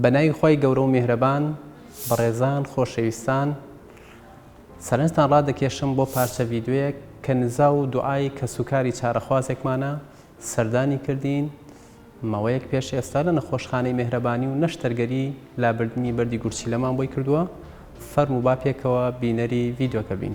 بە ناوی خوای گەورە و میهرەبان بەڕێزان خۆشەویستان سەرنجتان ڕادەکێشم بۆ پارچە ڤیدیۆیەک کە نزا و دوعای کەسوکاری چارەخوازێکمانە سەردانی کردین ماوەیەک پێش ئێستا لە نەخۆشخانەی مێهرەبانی و نەشتەرگەری لابردنی بەردی گورچیلەمان بۆی کردووە فەرموو با پێکەوە بینەری ڤیدیۆکە بین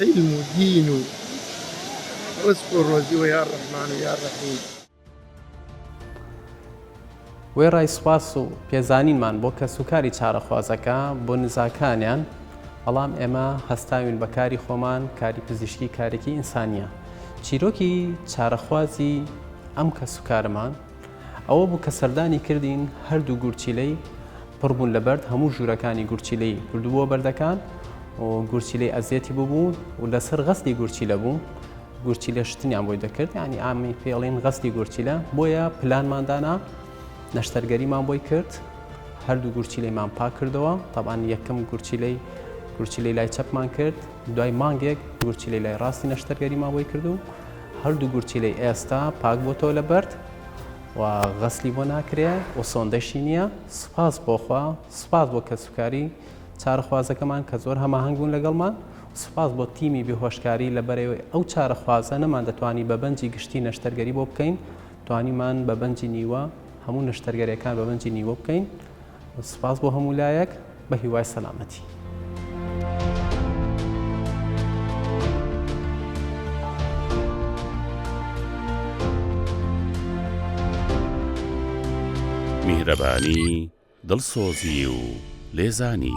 عیلم و دین و ڕزق و ڕۆزی و یا ڕەحمان و یا ڕەحیم. وێڕای سوپاس و پێزانینمان بۆ کەسوکاری چارەخوازەکە بۆ نزاکانیان، بەڵام ئێمە هەستاوین بە کاری خۆمان، کاری پزیشکی کارێکی ئینسانییە. چیرۆکی چارەخوازی ئەم کەسوکارەمان، ئەوە بوو کە سەردانی کردین، هەردوو گورچیلەی پڕ بوون لە بەرد، هەموو ژوورەکانی گورچیلەی بردبووە بەردەکان و گورچیلەی ئەزیەتی ببوو و لەسەر غەسلی گورچیلە بوو، گورچیلە شتنیان بۆی دەکرد، یانی ئامی پێڵین غەسلی گورچیلە، بۆیە پلانمان دانا نەشتەرگەریمان بۆی کرد، هەردوو گورچیلەیمان پاک کردەوە، تەبعەن یەکەم گورچیلەی گورچیلەی لای چەپمان کرد، دوای مانگێک گورچیلەی لای ڕاستی نەشتەرگەریمان بۆی کرد و هەردوو گورچیلەی ئێستا پاک بۆتەوە لە بەرد و غەسلی بۆ ناکرێ و سۆندەشی نییە سوپاس بۆخوا سوپاس بۆ کەسوکاری چارەخوازەکەمان کە زۆر هەماهنگ بوون لەگەڵمان سوپاس بۆ تیمی بێهۆشکاری لە بەرەوەی ئەو چارەخوازە نەمان دەتوانی بە بەنجی گشتی نەشتەرگەری بۆ بکەین توانیمان بە بەنجی نیوە هەموو نەشتەرگەریەکان بە بەنجی نیوە بکەین سپاس بۆ هەموو لایەک بە هیوای سەلامەتی. میهرەبانی دڵسۆزی و لێزانی.